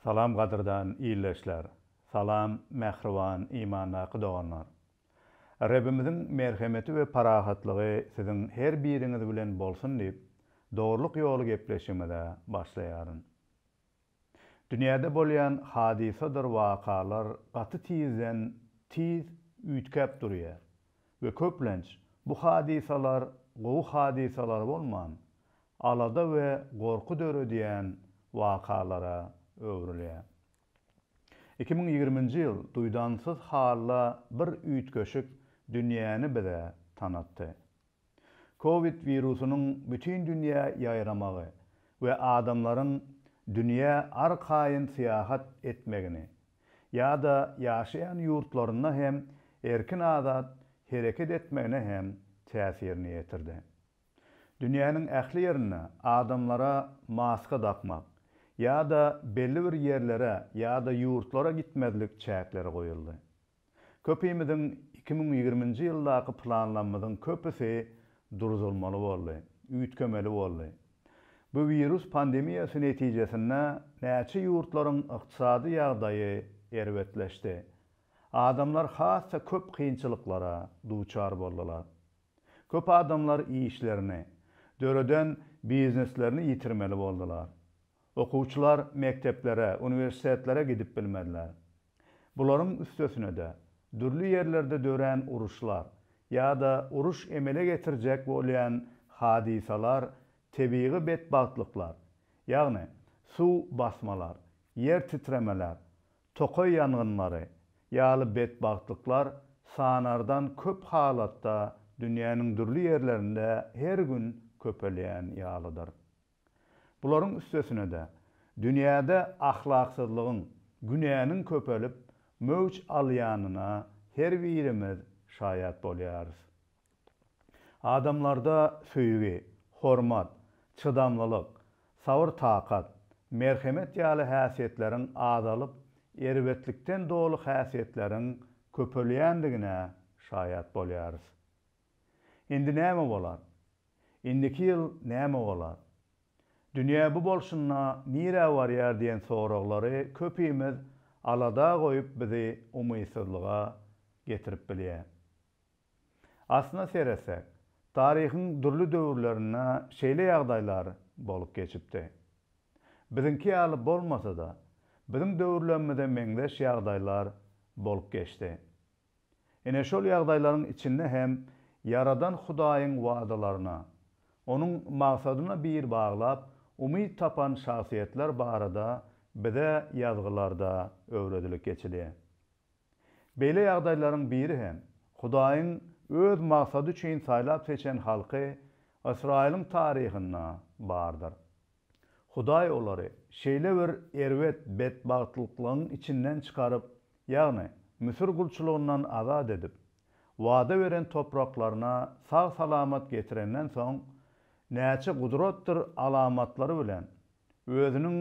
Salam gadyrdan ildeşler! Salam mähriban imandaky doganlar! Rebimiziň merhemeti we parahatlygy siziň her biriňiz bilen bolsun diýip, Dogrulyk ýoly gepleşigimize başlaýaryn. Dünýäde bolýan hadysadyr wakalar gaty tizden tiz üýtgäp durýar we köplenç bu hadysalar gowy hadysalar bolman, alada we gorky döredýän wakalara öwrülýär. Iki müň ýigriminji ýyl duýdansyz halla bir üýtgeşik dünýäni bize tanatdy. Covid wirusynyň bütin dünýä ýaýramagy we adamlaryň dünýä arkaýyn syýahat etmegini ýa-da ýaşaýan ýurtlarynda hem erkin-azat hereket etmegine hem täsirini ýetirdi. Dünýäniň ähli ýerinde adamlara maska dakmak ýa-da belli bir ýerlere ýa-da ýurtlara gitmezlik çäkleri goýuldy. Köpimiziň iki müň ýigriminji ýyldaky planlamyzyň köpüsi durdulmaly boldy, üýtgemeli boldy. Bu wirus pandemiýasy netijesinde näçe ýurtlaryň ykdysady ýagdaýy erbetleşdi. Adamlar has-da köp kynçylyklara duçar boldular. Köp adamlar işlerini, döreden bizneslerini ýitirmeli boldular. Okuwçylar mekdeplere, uniwersitetlere gidip bilmediler. Bularyň üstesinede, dürli ýerlerde dörän uruşlar ýa-da uruş emele getirjek bolýan hadysalar, tebigy betbagtlyklar, ýagny suw basmalar, ýer titremeler, tokaý ýangynlary ýaly betbagtlyklar sanardan köp halatda dünýäniň dürli ýerlerinde her gün köpelýän ýalydyr. Bularyň üstesine-de, dünýäde ahlaksyzlygyň, günäniň köpelip, möwç alýanyna her birimiz şaýat bolýarys. Adamlarda söýgi, hormat, çydamlylyk, sabyr-takat, merhemet ýaly häsiýetleriň azalyp, erbetlikden doly häsiýetleriň köpelýändigine şaýat bolýarys. Indi näme bolar? Indiki ýyl näme bolar? Dünýä bu bolşunda nirä barýar diýen soraglary köpimiz alada goýup bizi umytsyzlyga getirip bilýär. Aslyna seretsek, taryhyň dürli döwürlerinde şeýle ýagdaýlar bolup geçipdi. Biziňki ýaly bolmasa-da, biziň döwürlerimize meňzeş ýagdaýlar bolup geçdi. Ine şol ýagdaýlaryň içinde hem Ýaradan Hudaýyň wadalaryna, Onuň magsadyna bil baglap, umyt tapan şahsyýetler barada bize Ýazgylarda öwredilip geçilýär. Beýle ýagdaýlaryň biri hem, Hudaýyň Öz maksady üçin saýlap-seçen halky Ysraýylyň taryhynda bardyr. Hudaý olary şeýle bir erbet betbagtlyklaryň içinden çykaryp, ýagny Müsür gulçulygyndan azat edip, wada beren topraklaryna sag-salamat getirenden soň, näçe gudratdyr alamatlary bilen Özüniň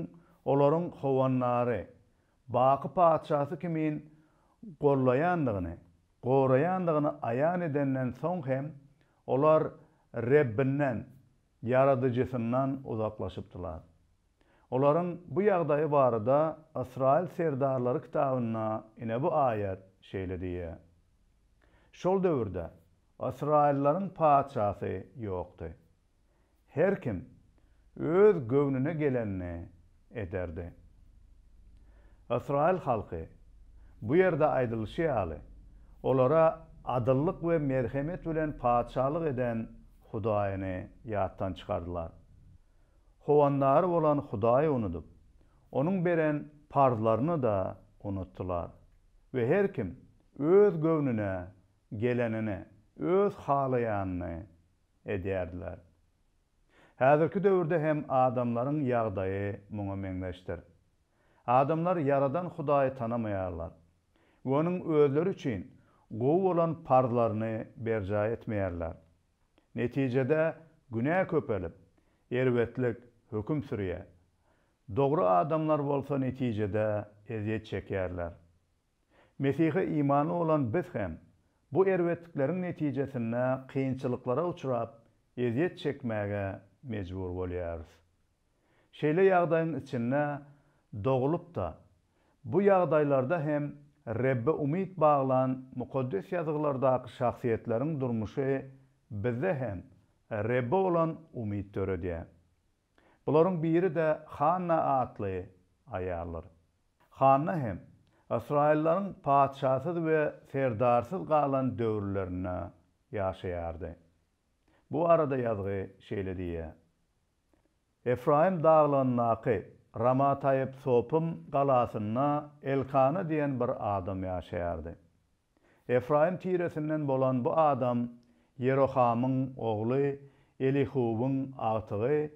olaryň howandary, baky Patyşasy kimin gollaýandygyny, goraýandygyny aýan edenden soň hem, olar Rebbinden, Ýaradyjysyndan uzaklaşypdylar. Olaryň bu ýagdaýy barada Ysraýyl serdarlary kitabynda ine bu aýat şeýle diýýär, Şol döwürde ysraýyllaryň patyşasy ýokdy. Her kim öz göwnüne gelenini ederdi. Ysraýyl halky, bu ýerde aýdylyşy ýaly, olara adyllyk we merhemet bilen patyşalyk eden Hudaýyny ýatdan çykardylar. Howandary bolan Hudaýy unudyp, Onuň beren parzlaryny-da unutdylar we her kim öz göwnüne gelenini, öz halaýanyny edýärdiler. Häzirki döwürde hem adamlaryň ýagdaýy muňa meňzeşdir. Adamlar Ýaradan Hudaýy tanamaýarlar we Onuň özleri üçin gowy bolan parzlaryny berjaý etmeýärler. Netijede, günä köpelip, erbetlik höküm sürýär. Dogry adamlar bolsa netijede ezýet çekýärler. Mesihe imanly bolan biz hem bu erbetlikleriň netijesinde kynçylyklara uçrap, ezýet çekmäge mejbur bolýarys. Şeýle ýagdaýyň içinde doglup-da, bu ýagdaýlarda hem Rebbe umyt baglan Mukaddes Ýazgylardaky şahsyýetleriň durmuşy bizde hem Rebbe bolan umyt döredýär. Bularyň biri-de Hanna atly aýaldyr. Hanna hem ysraýyllaryň patyşasyz we serdarsyz galan döwürlerinde ýaşaýardy. Bu barada ýazgy şeýle diýýär, Efraýym daglygyndaky Ramataýypsopym galasynda Elkana diýen bir adam ýaşaýardy. Efraýym tiresinden bolan bu adam Ýerohamyň ogly Elihuwyň agtygy,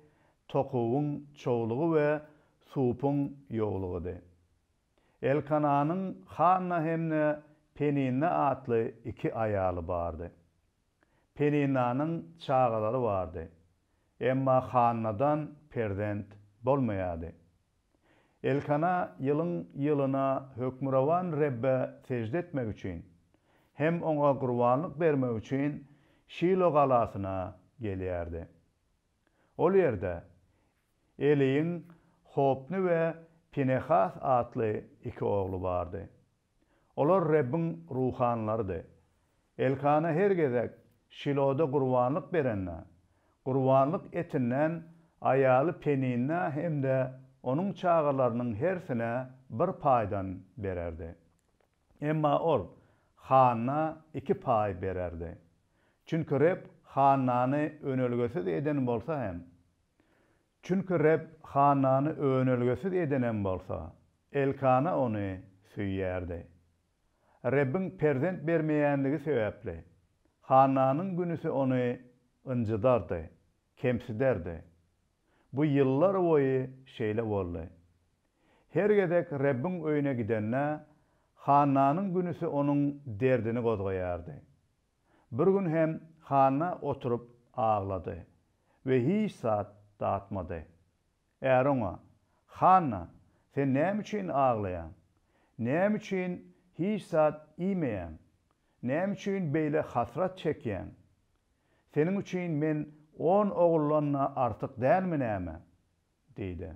Tokuwyň çowlugy we Supyň ýowlugydy. Elkananyň Hanna hem-de Peninna atly iki aýaly bardy. Peninanyň çagalary bardy, emma Hannadan perzent bolmaýardy. Elkana ýylyň ýylyna Hökmürowan Rebbe sežde etmek üçin hem Oňa gurbanlyk bermek üçin Şilo galasyna gelýärdi. Ol ýerde Eliň Hopny we Pinehas atly iki ogly bardy. Olar Rebbiň ruhanylarydy. Elkana her gezek Şiloda gurbanlyk berende, gurbanlyk etinden aýaly Peninna hem-de onuň çagalarynyň hersine bir paýdan bererdi. Emma ol Hanna iki paý bererdi. Çünki Reb Hannany önelgesiz eden bolsa hem, Çünki Reb Hannany önelgesiz edenem bolsa, Elkana ony söýýärdi. Rebbiň perzent bermeýänligi sebäpli, Hannanyň günüsi ony ynjydardy, kemsiderdi. Bu ýyllar boýy şeýle boldy. Her gezek Rebbiň öýüne gidende, Hannanyň günüsi onuň derdini gozgaýardy. Bir gün hem Hanna oturyp aglady we hiç zat datmady. Äri oňa, Hanna, sen näme üçin aglaýaň? Näme üçin hiç zat iýmeýäň? Näme üçin beýle hasrat çekýäň? Seniň üçin men on oguldan-da artyk dälmi näme? Diýdi.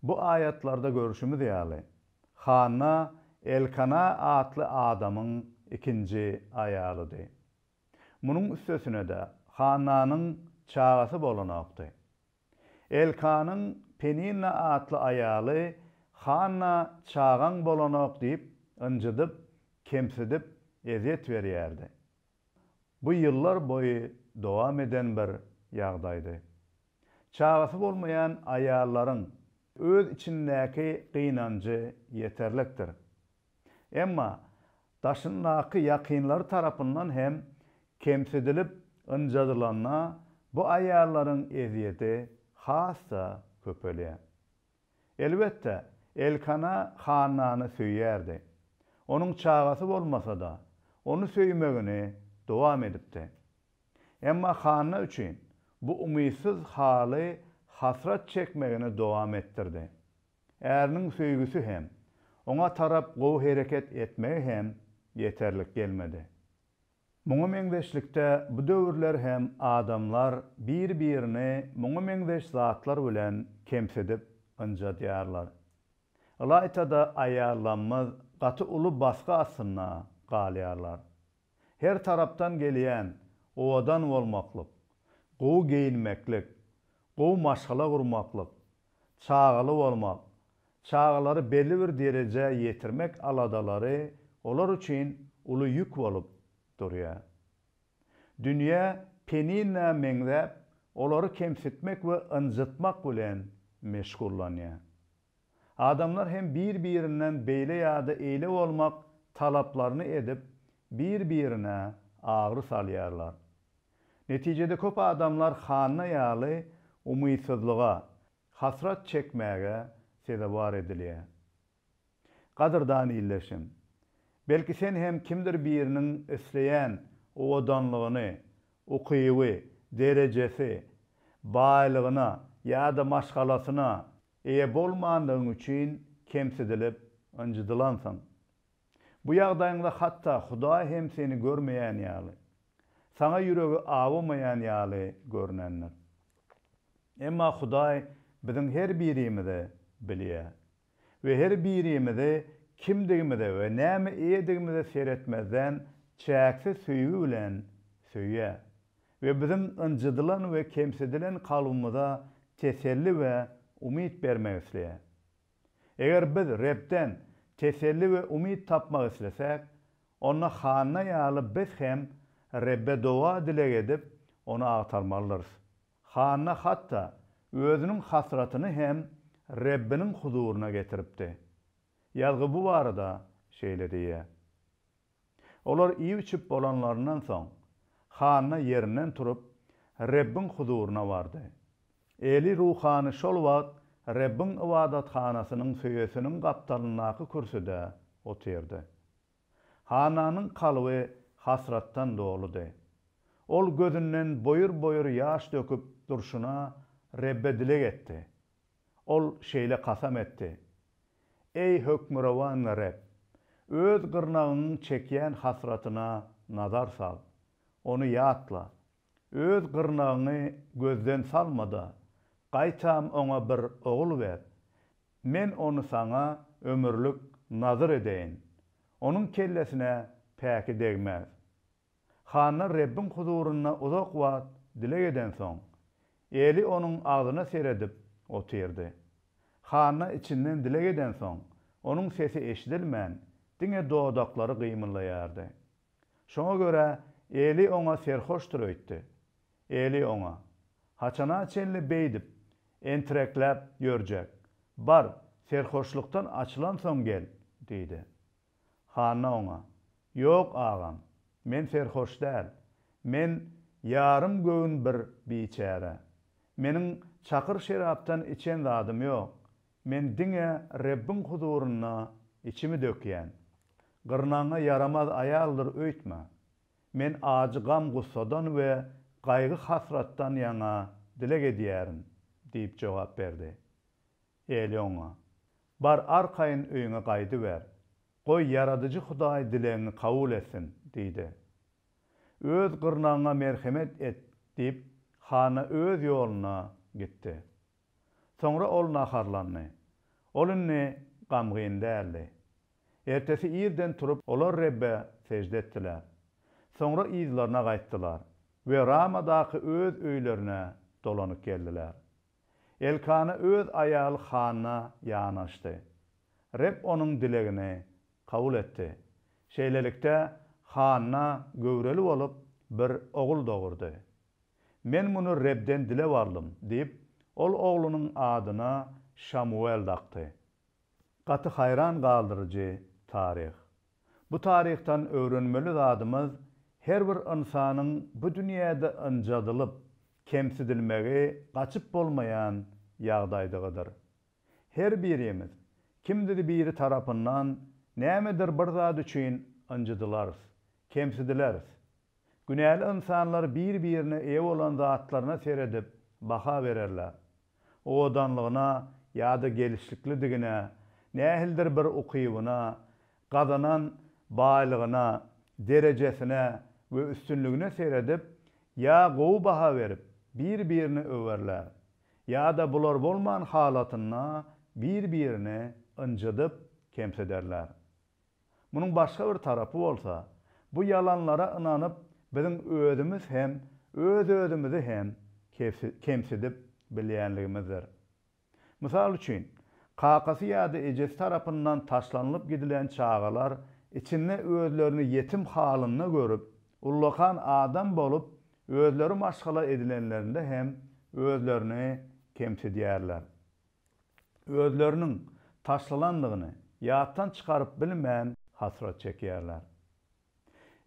Bu aýatlarda görşümiz ýaly, Hanna Elkana atly adamyň ikinji aýalydy. Munuň üstesine-de Hannanyň çagasy bolanokdy. Elkanyň Peninna atly aýaly Hanna çagaň bolanok diýip ynjydyp, kemsidip, ezýet berýärdi. Bu ýyllar boýy dowam eden bir ýagdaýdy. Çagasy bolmaýan aýallaryň öz içindäki gynanjy ýeterlikdir. Emma daşyndaky ýakynlary tarapyndan hem kemsidilip ynjadylanda bu aýallaryň ezýedi has-da köpelýär. Elbetde, Elkana Hannany söýýärdi. Onuň çagasy bolmasa-da, ony söýmegini dowam edipdi. Emma Hanna üçin bu umytsyz haly hasrat çekmegini dowam etdirdi. Äriniň söýgüsi hem, oňa tarap gowy hereket etmegi hem ýeterlik gelmedi. Muňa meňzeşlikde bu döwürler hem adamlar bir-birini muňa meňzeş zatlar bilen kemsidip ynjadýarlar. Ylaýta-da aýallamyz gaty uly basgy astynda galýarlar. Her tarapdan gelýän owadan bolmaklyk, gowy geýinmeklik, gowy maşgala gurmaklyk, çagaly bolmak, çagalary belli bir derejä ýetirmek aladalary olar üçin uly ýük bolup durýar. Dünýä Penina meňzäp, olary kemsitmek we ynjytmak bilen meşgullanýar. Adamlar hem bir-birinden beýle ýa-da eýle bolmak talaplaryny edip, bir-birine agyry salýarlar. Netijede köp adamlar Hanna ýaly umytsyzlyga, hasrat çekmäge sezewar edilýär. Gadyrdan ildeşim! Belki sen hem kimdir biriniň isleýän owadanlygyny, ukyby, derejesi, baýlygyna ýa-da maşgalasyna Eýe bolmandygyň üçin kemsidilip, ynjydylansyň. Bu ýagdaýyňda hatda Hudaý hem seni görmeýän ýaly, saňa ýüregi awamaýan ýaly görnendir. Emma Hudaý biziň her birimizi bilýär we her birimizi kimdigimize we näme eýedigimize seretmezden çäksiz söýgi bilen söýýär. we biziň ynjydylan we kemsidilen kalbymyza teselli we umyt bermek isleýär. Eger biz Rebden teselli we umyt tapmak islesäk, onda Hanna ýaly biz hem Rebbe doga-dileg edip, Ony agtarmalydyrys. Hanna hatda özüniň hasratyny hem Rebbiniň huzuryna getiripdi. Ýazgy bu barada şeýle diýýär. Olar iýip-içip bolanlaryndan soň, Hanna ýerinden turup, Rebbiň huzuryna bardy. Eli ruhany şol wagt Rebbiň ybadathanasynyň söýesiniň gapdalyndaky kürsüde otyrdy. Hannanyň kalby hasratdan doludy. Ol gözünden boýur-boýur ýaş döküp durşuna Rebbe dileg etdi. Ol şeýle kasam etdi, Eý, Hökmürowan Reb, öz gyrnagyňyň çekýän hasratyna nazar sal, ony ýatla. Öz gyrnagyňy gözden salma-da, gaýtam oňa bir ogul ber. Men ony saňa ömürlik nazyr edeýin. Onuň kellesine päki degmez. Hanna Rebbiň huzurynda uzak wagt dileg edensoň, Eli onuň agzyna seredip otyrdy. Hanna içinden dileg edensoň, onuň sesi eşidilmän, diňe dodaklary gymyldaýardy. Şoňa görä Eli oňa serhoşdyr öýtdi. Eli oňa, Haçana çenli beýdip, entirekläp ýörjek? Bar, serhoşlykdan açylansoň gel! diýdi. Hanna oňa, Ýok, agam, men serhoş däl. Men ýarym göwün bir biçäre. Meniň çakyr şerapdan içen zadym ýok. Men diňe Rebbiň huzurynda içimi dökýän. Gyrnagyňa ýaramaz aýaldyr öýtme. Men ajy gam-gussadan we gaýgy-hasratdan ýaňa dileg edýärin diýip jogap berdi. Eli oňa. Bar arkaýyn öýüňe gaýdyber. Goý, Ýaradyjy Hudaý dilegiňi kabul etsin, diýdi. Öz gyrnagyňa merhemet et, diýip, Hanna öz ýoluna gitdi. Soňra ol naharlandy. Ol indi gamgyn däldi. Ertesi irden turup, olar Rebbe sežde etdiler. Soňra yzlaryna gaýtdylar we Ramadaky öz öýlerine dolanyp geldiler. Elkana öz aýaly Hanna ýanaşdy. Reb onuň dilegini kabul etdi. Şeýlelikde, Hanna göwreli bolup, bir ogul dogurdy. Men muny Rebden dilep aldym diýip, ol oglunyň adyna Şamuwel dakdy. Gaty haýran galdyryjy taryh! Bu taryhdan öwrenmeli zadymyz her bir ynsanyň bu dünýäde ynjadylyp, kemsidilmegi gaçyp bolmaýan ýagdaýdygydyr. Her birimiz kimdir biri tarapyndan nämedir bir zat üçin ynjydylarys, kemsidileris. Günäli ynsanlar bir-birine eýe bolan zatlaryna seredip baha bererler. owadanlygyna ýa-da gelşiklidigine, nähilidir bir ukybyna, gazanan baýlygyna, derejesine we üstünligine seredip, ýa gowy baha berip, bir-birini öwerler, ýa-da bular bolman halatynda bir-birini ynjydyp, kemsiderler. Munuň başga bir tarapy bolsa, bu ýalanlara ynanyp, biziň özümiz hem, öz-özümizi hem kemsidip bilýänligimizdir. Mysal üçin, kakasy ýa-da ejesi tarapyndan taşlanylyp gidilen çagalar içinde özlerini ýetim halynda görüp, ullakan adam bolup, özleri maşgala edilenlerinde hem özlerini kemsidýärler. özleriniň taşlalandygyny ýatdan çykaryp bilmän hasrat çekýärler.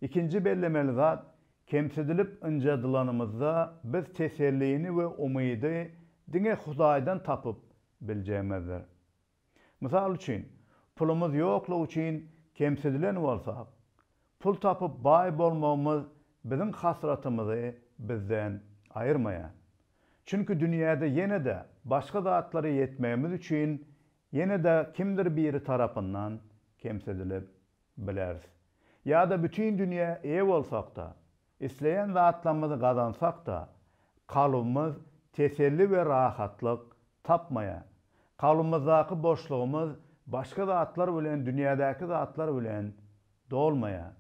Ikinji bellemeli zat, kemsidilip ynjadylanymyzda biz tesellini we umydy diňe Hudaýdan tapyp biljegimizdir. Mysal üçin, pulumyz ýoklugy üçin kemsidilen bolsak, Pul tapyp baý bolmagymyz biziň hasratymyzy bizden aýyrmaýar. Çünki dünýäde ýene-de başga zatlara ýetmegimiz üçin ýene-de kimdir biri tarapyndan kemsidilip bileris. Ýa-da bütin dünýä eýe bolsak-da, Isleýän zatlarymyzy gazansak-da, kalbymyz teselli we rahatlyk tapmaýar. Kalbymyzdaky boşlugymyz başga zatlar bilen, dünýädäki zatlar bilen dolmaýar.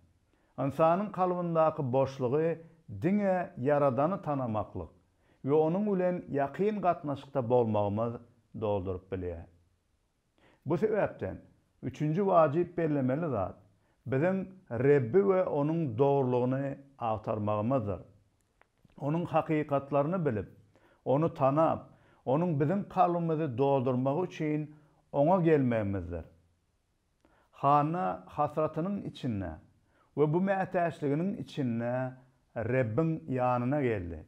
Ynsanyň kalbyndaky boşlugy diňe Ýaradany tanamaklyk we onuň bilen ýakyn gatnaşykda bolmagymyz dolduryp bilýär. Bu sebäpden, üçünji wajyp bellemeli zat, biziň Rebbi we Onuň dogrulygyny agtarmagymyzdyr. Onuň hakykatlaryny bilip, Ony tanap, Onuň biziň kalbymyzy doldurmagy üçin Oňa gelmegimizdir. Hanna hasratynyň içinde we bu mätäçliginiň içinde Rebbiň ýanyna geldi.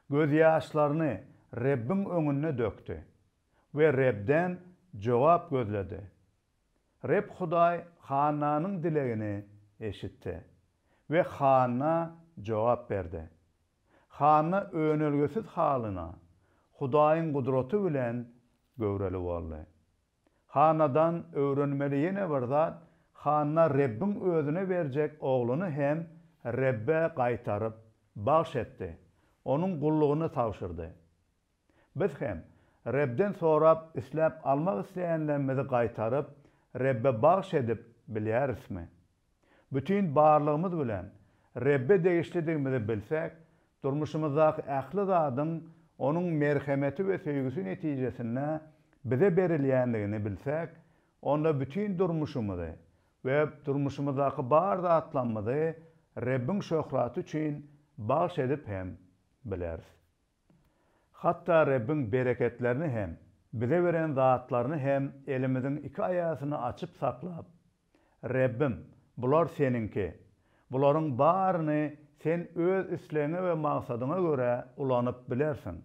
Gözýaşlaryny Rebbiň öňünde dökdi. we Rebden jogap gözledi. Reb Hudaý Hannanyň dilegini eşitdi we Hanna jogap berdi. Hanna önelgesiz halyna Hudaýyň gudraty bilen göwreli boldy. Hannadan öwrenmeli ýene bir zat, Hanna Rebbiň özüne berjek ogluny hem Rebbe gaýtaryp, bagş etdi, onuň gullugyna tabşyrdy. Biz hem, Rebden sorap, isläp almak isleýänlerimizi gaýtaryp, Rebbe bagyş edip bilýärismi? Bütin barlygymyz bilen Rebbe degişlidigimizi bilsek, durmuşymyzdaky ähli zadyň Onuň merhemeti we söýgüsi netijesinde bize berilýändigini bilsek, onda bütin durmuşymyzy we durmuşymyzdaky bar zatlamyzy Rebbiň şöhraty üçin bagyş edip hem bileris. Hatda Rebbiň bereketlerini hem, bize beren zatlaryny hem elimiziň iki aýasyny açyp saklap, Rebbim, bular Seniňki. Bularyň baryny Sen Öz islegiňe we maksadyňa görä ulanyp bilersiň.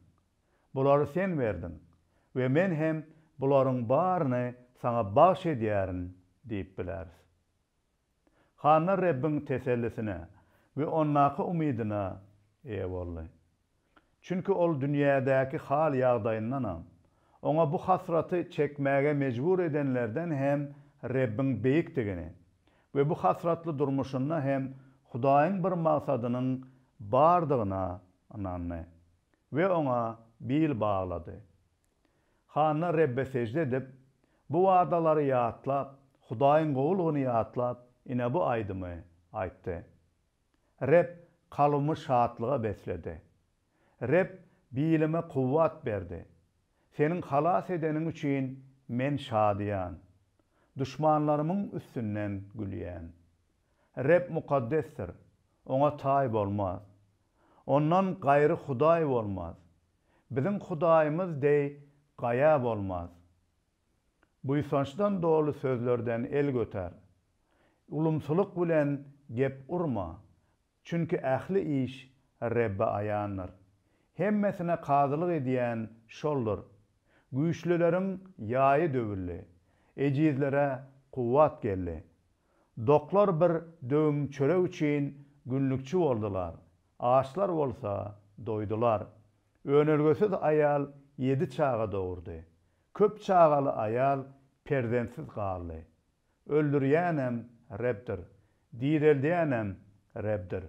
Bulary Sen berdiň we men hem bularyň baryny Saňa bagyş edýärin diýip bileris. Hanna Rebbiň tesellisine we ondaky umydyna eýe boldy. Çünki ol dünýädäki hal-ýagdaýyndanam, oňa bu hasraty çekmäge mejbur edenlerden hem Rebbiň beýikdigini we bu hasratly durmuşynda hem Hudaýyň bir magsadynyň bardygyna ynandy we oňa bil baglady. Hanna Rebbe sežde edip, bu wadalary ýatlap, Hudaýyň gowulygyny ýatlap, ine bu aýdymy aýtdy. Reb kalbymy şatlyga besledi. Reb bilime kuwwat berdi. Seniň halas edeniň üçin men şadyýan. Duşmanlarymyň üstünden gülýän. Reb mukaddesdir, Oňa taý bolmaz. Ondan gaýry Hudaý bolmaz. Biziň Hudaýymyz deý gaýa bolmaz. Buýsançdan doly sözlerden el götär. Ulumsylyk bilen gep urma, çünki ähli iş Rebbe aýandyr. Hemmesine kazylyk edýän Şoldur. Güýçlüleriň ýaýy döwüldi, ejizlere kuwwat geldi. Doklar bir döwüm çörek üçin günlükçi boldular, Açlar bolsa doýdular. Önelgesiz aýal ýedi çaga dogurdy. Köp çagaly aýal perzentsiz galdy. Öldürýänem Rebdir. Direldýänem Rebdir.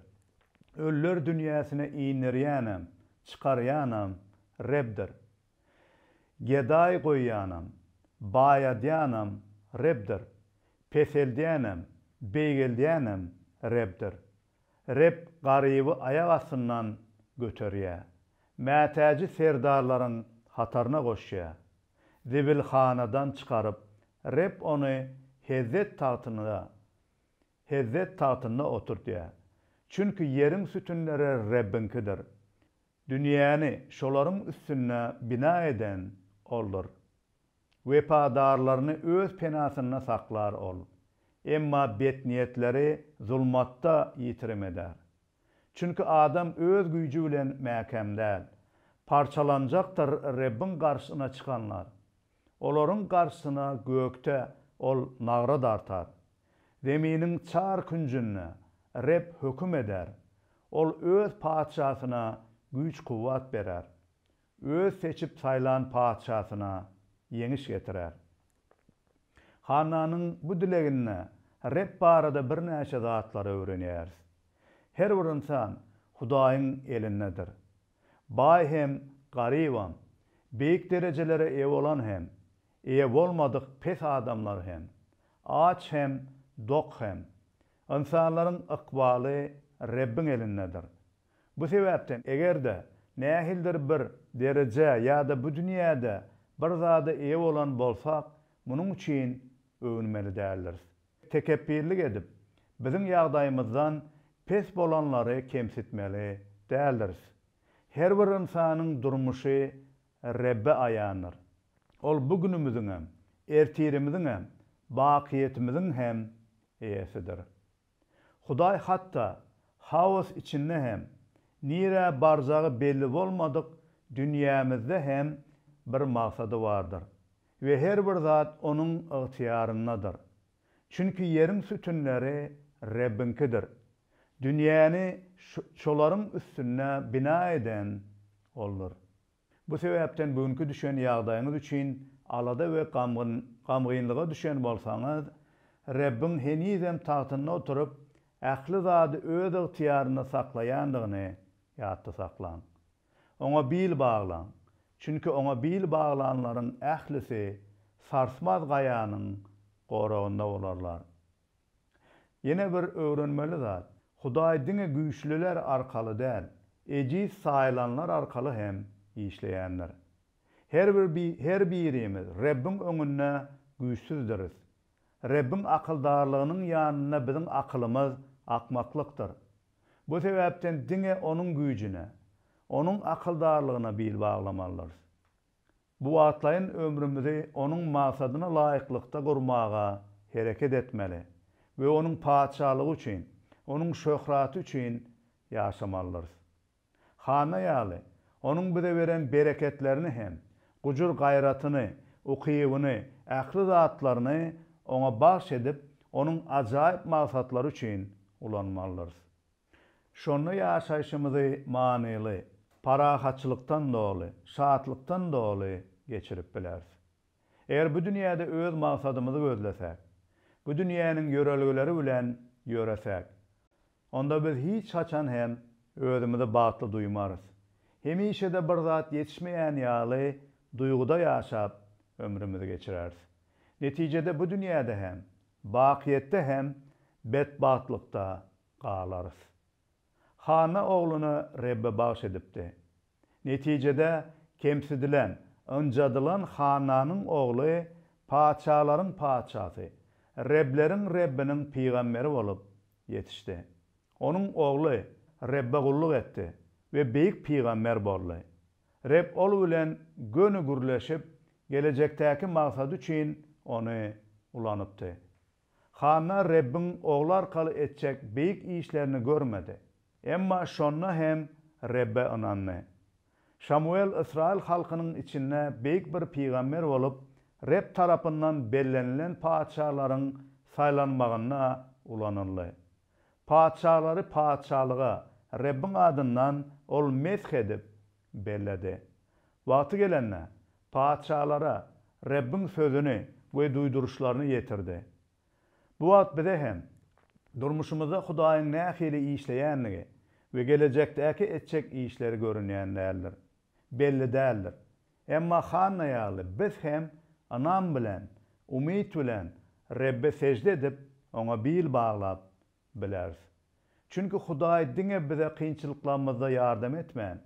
Ölüler dünýäsine inderýänem, çykarýanam Rebdir. Gedaý goýýanam, baýadýanam Rebdir. Peseldýänem, beýgeldýänem Rebdir. Reb garyby aýak astyndan göterýär, mätäji serdarlaryň hataryna goşýar. Zibilhanadan çykaryp, Reb ony hezzet tagtynda, hezzet tagtynda oturtýar. Çünki ýeriň sütünleri Rebbiňkidir. Dünýäni şolaryň üstünde bina eden Oldur. Wepadarlaryny öz penasynda saklar Ol. Emma betniýetleri zulmatda ýitirim eder. Çünki adam öz güýji bilen mäkäm däl. Parçalanjakdyr Rebbiň garşysyna çykanlar. Olaryň garşysyna gökde Ol nagra dartar. Zeminiň çar künjünde Reb höküm eder. Ol Öz Patyşasyna güýç-kuwwat berer. Öz seçip saýlan patyşasyna ýeňiş getirer. Hannanyň bu dileginde Reb barada birnäçe zatlary öwrenýäris. Her bir ynsan Hudaýyň elindedir. Baý hem, garybam, beýik derejelere eýe bolan hem, eýe bolmadyk pes adamlar hem, aç hem, dok hem. Ynsanlaryň ykbaly Rebbiň elindedir. Bu sebäpden eger-de nähilidir bir derejä ýa-da bu dünýäde bir zada eýe bolan bolsak, munuň üçin öwünmeli däldiris. Tekepbirlik edip, biziň ýagdaýymyzdan pes bolanlary kemsitmeli däldiris. Her bir ynsanyň durmuşy Rebbe aýandyr. Ol bu günümiziňem, ertirimiziňem, bakyýetimiziň hem Eýesidir. Hudaý hatda haos içinde hem, nirä barjagy belli bolmadyk dünýämizde hem bir maksady bardyr we her bir zat Onuň ygtyýaryndadyr. Çünki ýeriň sütünleri Rebbiňkidir. Dünýäni şolaryň üstünde bina eden Oldur. Bu sebäpden bu günki düşen ýagdaýyňyz üçin alada we gamgyn, gamgynlyga düşen bolsaňyz, Rebbiň henizem tagtynda oturyp, ähli zady öz ygtyýarynda saklaýandygyny ýatda saklaň. Oňa bil baglaň, çünki oňa bil baglanlaryň ählisi sarsmaz gaýanyň goragynda bolarlar. Ýene bir öwrenmeli zat, Hudaý diňe güýçlüler arkaly däl, ejiz saýlanlar arkaly hem işleýändir. Her bir her birimiz Rebbiň öňünde güýçsüzdiris. Rebbiň akyldarlygynyň ýanynda biziň akylymyz akmaklykdyr. Bu sebäpden diňe Onuň güýjüne, Onuň akyldarlygyna bil baglamalydyrys. Bu wagtlaýyn ömrümizi Onuň maksadyna laýyklykda gurmaga hereket etmeli we Onuň Patyşalygy üçin, Onuň şöhraty üçin ýaşamalydyrys. Hanna ýaly, Onuň bize beren bereketlerini hem, gujur-gaýratyny, ukybyny, ähli zatlaryny Oňa bagyş edip, Onuň ajaýyp maksatlary üçin ulanmalydyrys. Şonda ýaşaýşymyzy manyly, parahatçylykdan doly, şatlykdan doly geçirip bileris. Eger bu dünýäde öz maksadymyzy gözlesäk, bu dünýäniň ýörelgeleri bilen ýöresäk, onda biz hiç haçan hem özümizi bagtly duýmarys. Hemişe-de bir zat ýetişmeýän ýaly duýguda ýaşap ömrümizi geçireris. Netijede bu dünýäde hem, bakyýetde hem betbagtlykda galarys. Hana ogluna Rebbe bagyş edipdi. Netijede kemsidilen, ynjadylan Hananyň ogly patyşalaryň Patyşasy, Rebleriň Rebbiniň pygamberi bolup ýetişdi. Onuň ogly Rebbe gulluk etdi we beýik pygamber boldy. Reb ol bilen göni gürleşip, gelejekdäki maksady üçin ony ulanypdy. Hanna Rebbiň ogly arkaly etjek beýik işlerini görmedi. Emma şonda hem Rebbe ynandy. Şamuwel ysraýyl halkynyň içinde beýik bir pygamber bolup, Reb tarapyndan bellenilen patyşalaryň saýlanmagynda ulanyldy. Patyşalary patyşalyga Rebbiň adyndan ol mesh edip, belledi. Wagty gelende, patyşalara Rebbiň sözüni we duýduryşlaryny ýetirdi. Bu wagt bize hem durmuşymyzda Hudaýyň nähili işleýändigi we gelejekdäki etjek işleri görünýän däldir. Belli däldir. Emma Hanna ýaly biz hem ynam bilen, umyt bilen Rebbe sežde edip, Oňa bil baglap, bileris. Çünki Hudaý diňe bize kynçylyklarymyzda ýardam etmän,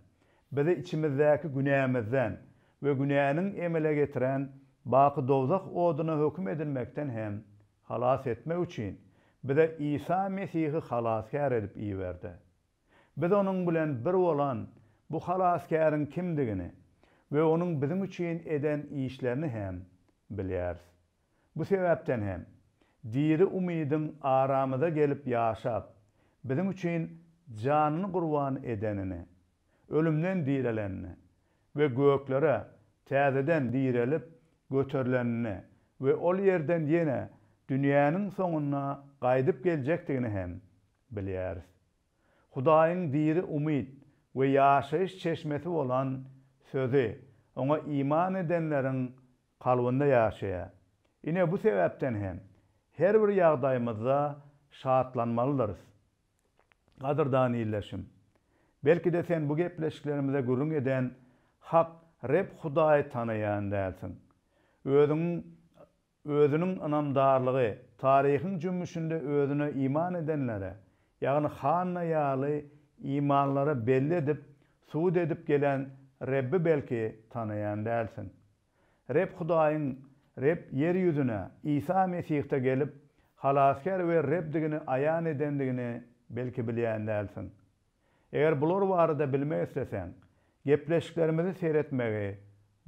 bizi içimizdäki günämizden we günäniň emele getiren baky dowzah oduna höküm edilmekden hem halas etmek üçin bize Isa Mesihi Halasgär edip iberdi. Biz onuň bilen bir bolan bu Halasgäriň kimdigini we onuň biziň üçin eden işlerini hem bilýäris. Bu sebäpden hem, diri umydyň aramyza gelip ýaşap, biziň üçin janyny gurban edenini, ölümden direlenini we göklere täzeden direlip göterilenini we ol ýerden ýene dünýäniň soňunda gaýdyp geljekdigini hem bilýäris. Hudaýyň diri umyt we ýaşaýyş çeşmesi bolan Sözi oňa iman edenleriň kalbynda ýaşaýar. Ine, bu sebäpden hem her bir ýagdaýymyzda şatlanmalydyrys. Gadyrdan ildeşim! Belki-de sen bu gepleşiklerimize gürrüň eden hak Reb Hudaýy tanaýan dälsiň. Özüň Özüniň ynamdarlygy taryhyň jümmüşinde Özüne iman edenlere, ýagny Hanna ýaly imanlara belli edip, subut edip gelen Rebbi belki tanaýan dälsiň. Reb Hudaýyň Reb ýer ýüzüne Isa Mesihde gelip, Halasgär we Rebdigini aýan edendigini belki bilýän dälsiň. Eger bular barada bilmek isleseň, gepleşiklerimizi seretmegi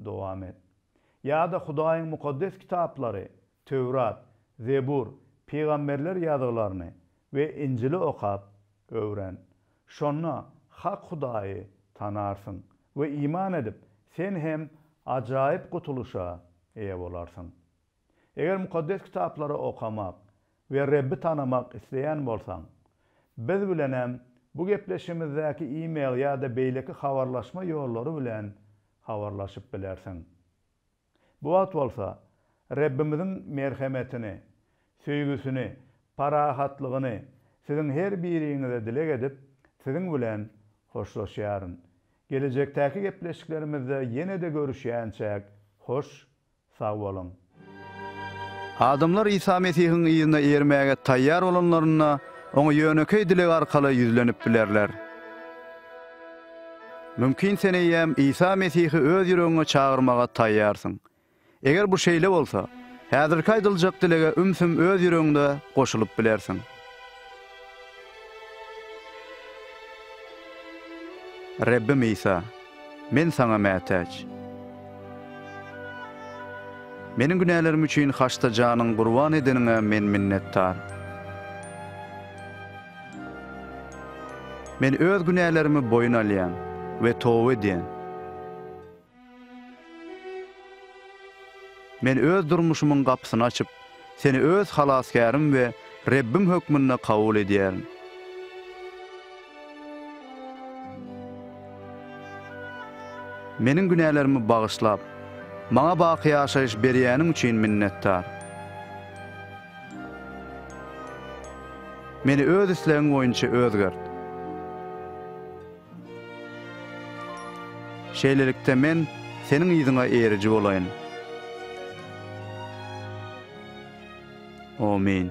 dowam et. Ýa-da Hudaýyň Mukaddes Kitaplary Töwrat, Zebur, Pygamberler ýazgylaryny we Injili okap, öwren. Şonda hak Hudaýy tanarsyň we iman edip, sen hem ajaýyp gutulyşa eýe bolarsyň. Eger Mukaddes Kitaplary okamak we Rebbi tanamak isleýän bolsaň, biz bilenem bu gepleşigimizdäki e-mail ýa-da beýleki habarlaşma ýollary bilen habarlaşyp bilersiň. Bu wagt bolsa Rebbimiziň merhemetini, söýgüsini, parahatlygyny siziň her biriňize dileg edip, siziň bilen hoşlaşýaryn. Gelejekdäki gepleşiklerimizde ýene-de görüşýänçäk, hoş, sag boluň! Adamlar Isa Mesihiň yzyna ermäge taýýar bolanlarynda, Oňa ýönekeý dileg arkaly ýüzlenip bilerler. Mümkin sen eýýäm Isa Mesihi öz ýüregiňe çagyrmaga taýýarsyň. Eger bu şeýle bolsa, häzirki aýdyljak dilege ümsüm öz ýüregiňde goşulyp bilersiň. Rebbim Isa, men Saňa mätäç. Meniň günälerim üçin haçda janyň gurban edeniňe men minnetdar. Men öz günälerimi boýun alýan we toba edýän. Men öz durmuşymyň gapysyny açyp, Seni öz Halasgärim we Rebbim hökmünde kabul edýärin. Meniň günälerimi bagyşlap, maňa baky ýaşaýyş berýäniň üçin minnetdar. Meni Öz islegiň boýunça özgert. Şeýlelikde, men Seniň yzyňa eriji bolaýyn. Amin.